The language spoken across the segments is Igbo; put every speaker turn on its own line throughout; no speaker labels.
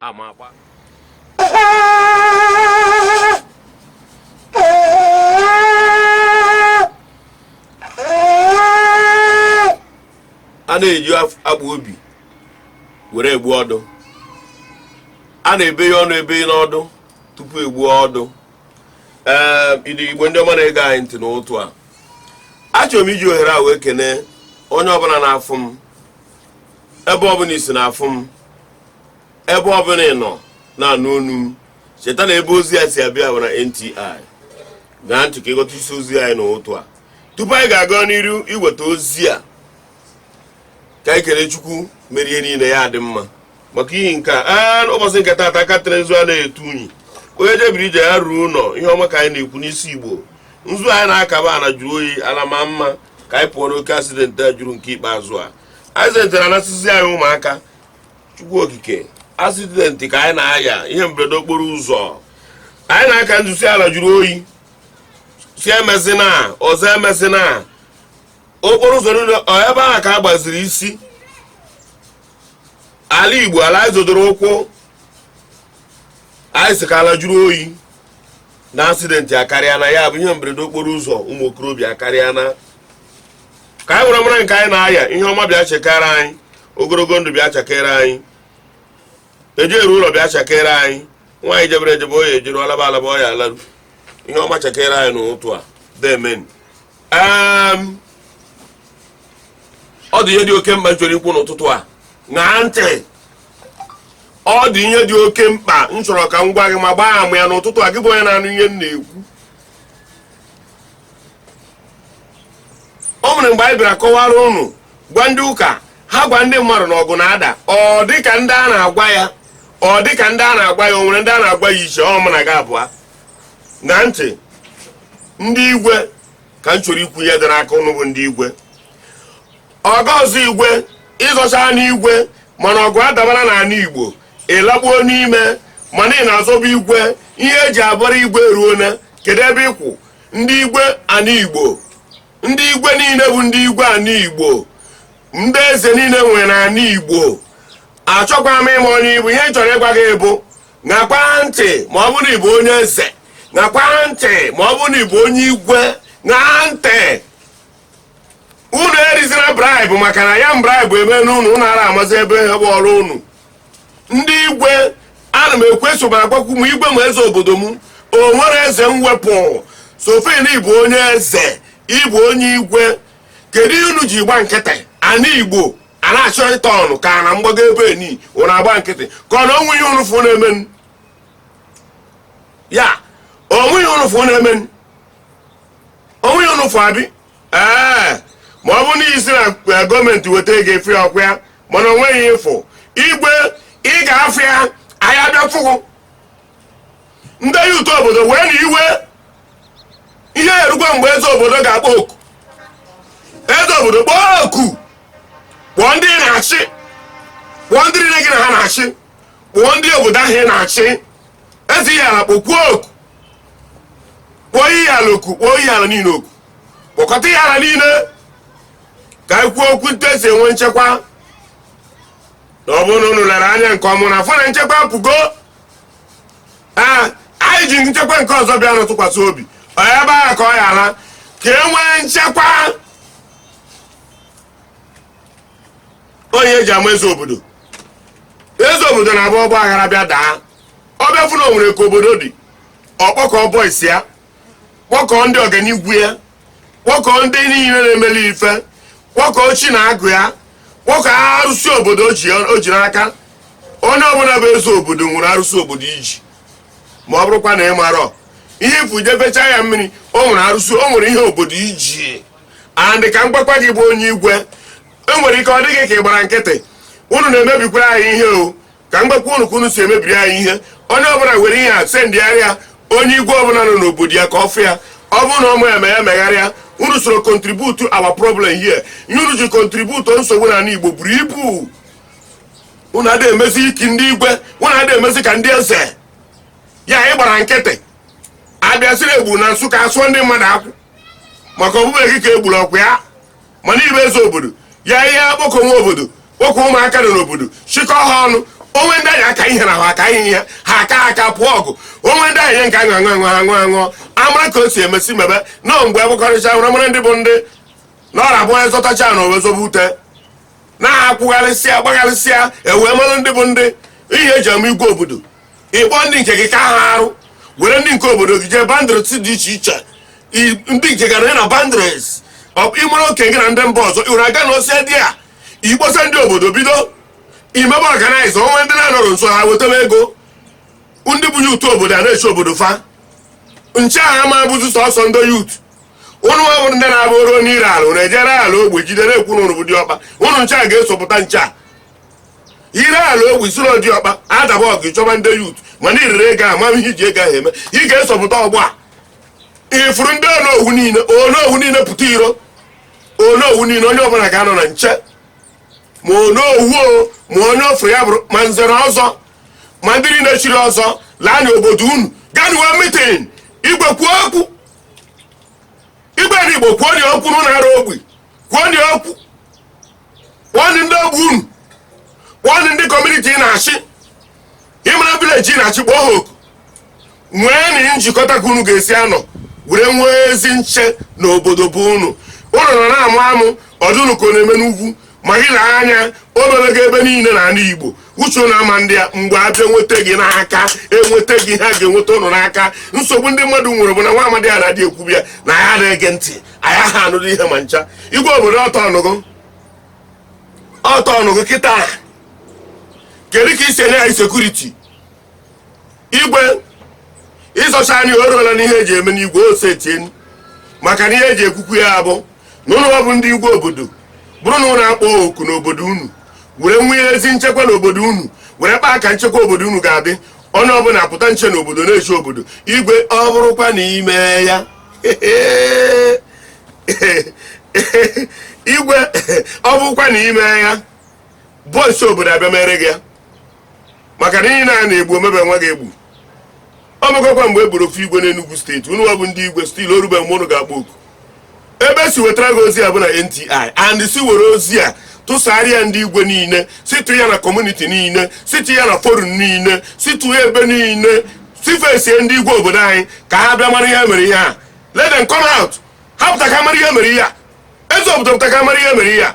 amakwa a na-eji agba obi were egbu ọdụ a na-ebe ya ọnụ ebe n'ọdụ tupu egbuo ọdụ ee ndị igbo ndị ọma na-ege anyị ntị n'ụtụ a achọrọ m iji ohere a wee kene onye ọbụla na-afụ m ebe ọbụla i si na-afụ m ebe ọbụla ị nọ na-anụ onu m cheta na ebe ozi a si abịa bụ na nti ṅaa ntị ka ị ghọta isi ozi anyị n'ụtụ a tupu anyị ga-aga n'iru iweta ozi a ka anyị kele chukwu mere ihe niile ya dị mma maka ihi nke a ụbọchị nke taata aka tere nzu a na-etu unyi onye jebere ije ya ruo ụlọ ihe ọma ka anyị na-ekwu n'isi igbo nzu anyị na-aka bụ ala jụrụ oyi ala maa mma ka anyị pụọ n'oke asidenti a jụrụ nke ikpeazụ a asidenti na-anasịzi anyị ụmụaka chukwu okike asidenti ka anyị na-aya ihe mberede okporo ụzọ anyị na-aka nzu sị ala jụrụ oyi sị emezina ọzọ emezina okporo ụzọ niile ebe ahụ ka a gbaziri isi ala igbo ala anyị zodoro ụkwụ anyị sị ka ala jụrụ oyi na asidenti akarịana ya bụ ihe mberede okporo ụzọ ụmụ okorobịa akarịana ka anyị were mara nke anyị na-aya ihe ọma bịa chakere anyị ogologo ndụ bịa chakere anyị eje eru ụlọ bịa chakere anyị nwa anyị jebere ejebe ọ ya-ejeru alaba alaba ọ ya-alaru ihe ọma chakere anyị n'ụtụ a deemenụ ọ dị ihe dị oke mkpa m chọrọ ikwu n'ụtụtụ a ṅaa ntị ọ dị ihe dị oke mkpa m chọrọ ka m gwa gị ma gbaa ama ya n'ụtụtụ a gị bụ onye na-anụ ihe m na-ekwu o nwere mgbe anyị bịara kọwara unu gwa ndị ụka ha gwa ndị mmadụ na ọgụ na-ada ọ dịka ndị a na-agwa ya ọ dịka ndị a na-agwa ya o nwere ndị a na-agwa ya iche ọ mụ na gị abụọ ṅaa ntị ndị igwe ka m chọrọ ikwu ihe dị n'aka unu bụ ndị igwe ọ ga-azọ igwe ị zọcha n'igwe mana ọgụ adabala n'ala igbo ị laba n'ime mana ị na-azọba igwe ihe e ji abara igwe eruona kedu ebe ị kwụ ndị igwe ana igbo ndị igwe niile bụ ndị igwe ana igbo ndị eze niile nwere ana igbo achọkwa m ịma onye ị bụ ihe m chọrọ ịgwa gị bụ ṅakwa ntị ma ọ bụrụ na ị bụ onye eze ṅakwa ntị ma ọ bụrụ na ị bụ onye igwe ṅaa ntị unu erizina bribe maka na ya bribe eme n'unu unu ara amazi ihe bụ ọrụ unu ndị igwe ana m ekwuso m agwakwu m igwe m eze obodo m o nwere eze mwepụ sofin ị bụ onye eze ị bụ onye igwe kedu ihe unu ji gba nkịtị ana igbo a na-achọ ịta ọnụ ka na mgbago ebe ni unu agba nkịtị ka ọ na o nwe ihe unu fụ na-emenụ ya o nwe ihe unu fụ na-emenụ o nwe ihe unu fụ abi ee ma ọ bụ na ị sị na eh, gọọmenti weta ego ị fụ ya ọkwa ya mana o nweghị ị fụ igwe ị ga-afụ ya anyị abịa fụgụ ndị youth obodo wee na iwe ihe erukwa mgbe eze obodo ga-akpọ oku eze obodo kpọọ oku kpọọ ndị ị na-achị kpọọ ndị niile gị na ha na-achị kpọọ ndị obodo ahụ ị na-achị eze ihiala kpọkwuo oku kpọọ ihiala oku kpọọ ihiala niile oku kpọkọta ihiala niile ka anyị kwuo okwu etu e si enwe nchekwa na ọ bụrụ na unu lere anya nke ọma na-afụ na nchekwa apụgo ee anyị ji nchekwa nke ọzọ bịanụ tụkwasị obi ọ ya ebe ahụ ka ọ ya ala ka e nwee nchekwa onye eji ama eze obodo eze obodo na-abụ ọgbaaghara bịa daa ọ bịa fụ na o nwere ka obodo dị ọ kpọkọọ boys ya kpọkọọ ndị ọganigwu ya kpọkọọ ndị niile na-emeli ife kpọkọọ chi na agụ ya kpọkọọ arụsị obodo o ji o ji n'aka onye ọbụla bụ eze obodo nwere arụsị obodo i ji ma ọ bụrụkwa na ị marọ ihe ị fụ jefecha ya mmiri o nwere arụsị o nwere ihe obodo ji and ka m gwakwa gị bụ onye igwe o nwere ike ọ dị gị ka ị gbara nkịtị unu na-emebikwara anyị ihe o ka m gwakwa unu ka unu si emebiri anyị ihe onye ọbụla were ihe a sendịgharịa onye igwe ọbụla nọ n'obodo ya ka ọ fụ ya ọ bụrụ na ọmụ ya ma ya megharịa unu soro contribute our problem here ihe unu ji contribute nsogbu na ala igbo buru ibu unu adịghị emezi ka ndị igwe unu adịghị emezi ka ndị eze ya ị gbara nkịtị a bịa sị na e gburu na nsụka a sụọ ndị mmadụ ọkụ maka ọ bụbeghị gị ka e gburu ọkwa ya mana ị bụ eze obodo ya ihe akpọkọ nwa obodo kpọkọ ụmụaka nọ n'obodo chịkọ ha ọnụ o nwe ndị anyị aka ihe na ha aka ihe ha aka aka pụọ ọgụ o nwe ndị anyị nke aṅụ aṅụ aṅụ aṅụ aṅụ amara ka o si emesi mebe na mgbe agbakọrịcha nwere mara ndị bụ ndị na ọ na-abụ onye zọtacha na owe zobe ute na-akwụgharịsịa gbagharịsịa e wee mara ndị bụ ndị ihe eji ama igwe obodo ịkpọ ndị nke gị ka ha arụ were ndị nke obodo gị jee bandres dị iche iche I- ndị nke gara ya na bandres ịmara oke gị na ndị mba ọzọ iwere aga na ose dị a ịkpọsa ndị obodo bido imebe ọganaiza onwe ndị na-anọrọ nso ha wetebe ego ndị bụ yut obodo a na-eche obodo fa nche a ama bụzi sọsọ ndị yut ụnụ nwa bụrụ ndị na-abụ o ruo n'ire ala ụnụ ejere ala ogbe jide na-ekwu na ụnụ bụ diọkpa ụnụ nche a ga-eso pụta nche a ire ala ogbe isoro diọkpa adaba ọgụ ịchọba ndị yut mana irere ego a mama ihe iji ego ahụ eme ị ga-eso pụta ugbu a ifuru ndị onowu niile onowu niile pụta iro onowu niile onye ọbụla ga-anọ na nche ma onowu o ma onye ọ fụrụ ya bụrụ ma nze na ọzọ ma ndị niile chiri ọzọ laa na obodo unu ga-enwe mitin igwe kwuo okwu igwe na igbo kwuo dị okwu n'ụlọ arụ ogbe kwuo dị okwu kpọọdị ndị ogbe unu kpọọdị ndị kọmuniti ị na-achị ịmara vileji ị na-achị kpọọ ha oku nweenụ njikọta ka unu ga-esi anọ were nwee ezi nche na obodo bụ unu unu nọ na-amụ amụ ọ dị unu ka ọ na-eme n'ugwu maghị na anya o mebego ebe niile na ala igbo uche unu ama adị ya mgbe abịa enweta gị n'aka enweta gị ha ga-enweta ụnụ n'aka nsogbu ndị mmadụ nwere bụ na nwa amadi a na-adị ekwubi ya na ya na-ege ntị anyị aha anụrụ ihe ma ncha igwe obodo ọtọ ọnụgụ kịta kedu ka ị si enye anyị sekuriti igwe ịzọcha anyị o ruola n'ihe eji eme n'igwe ose tie maka na ihe eji ekwukwu ya bụ na unu bụ ndị igwe obodo bụrụ na unu akpọ oku n'obodo unu were nwee ezi nchekwa n'obodo unu were kpaa ka nchekwa obodo unu ga-adị onye ọbụla pụta nche n'obodo na-eche obodo igwe ọ bụrụkwa na ime ya igwe ọ bụkwa na ime ya boys obodo abịa mere gị ya maka na ihe na-ana egbu omebe nwa gị egbu o megokwa mgbe e gburu ofu igwe n'Enugu steeti unu nwa bụ ndị igwe stil o rube mgbe unu ga-akpọ oku ebe e si wetara gị ozi a bụ na NTI and si were ozi a tụsarịa ndị igwe niile sitụ ya na kọmuniti niile sitụ ya na forum niile sitụ ya ebe niile sifesie ndị igwe obodo anyị ka ha bịa mara ihe mere ihe a let them come out ha pụta ka mara ihe mere ihe a eze obodo pụta ka mara ihe mere ihe a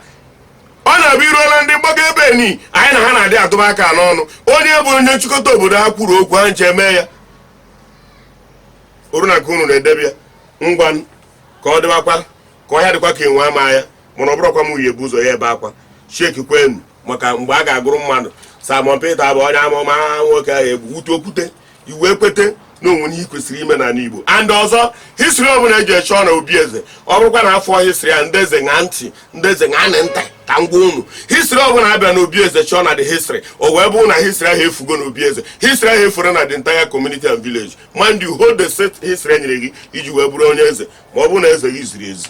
ọ na-abụ i ruola ndị mgbago ebe ni anyị na ha na-adị atụba aka n'ọnụ onye bụ onye nchịkọta obodo ha kwuru okwu ha ncha emee ya o ruo na nke unu na-edebe ya ngwa n- ka ọ dịbakwa ka ọhịa dịkwa ka enwe ama ya mana ọ bụrụkwa m onye bụ ụzọ ya ebe akwa sheki kwenu maka mgbe a ga-agụrụ mmadụ Simon Peter bụ onye amụma nwoke ahụ egbu wute okwute i wee kwete na o nwere ihe kwesịrị ime n'ala Igbo and ọzọ history ọbụla eje achọ na obi eze ọ bụrụkwa na afọ history ya ndị eze ṅa ntị ndị eze ṅa ntị ka m gwa unu history ọbụla abịa na obi eze chọọ na the history o wee bụrụ na history ahụ efugo na obi eze history ahụ efure na the entire community and village mind you hold the said history e nyere gị iji wee bụrụ onye eze ma ọ bụrụ na eze gị ziri ezi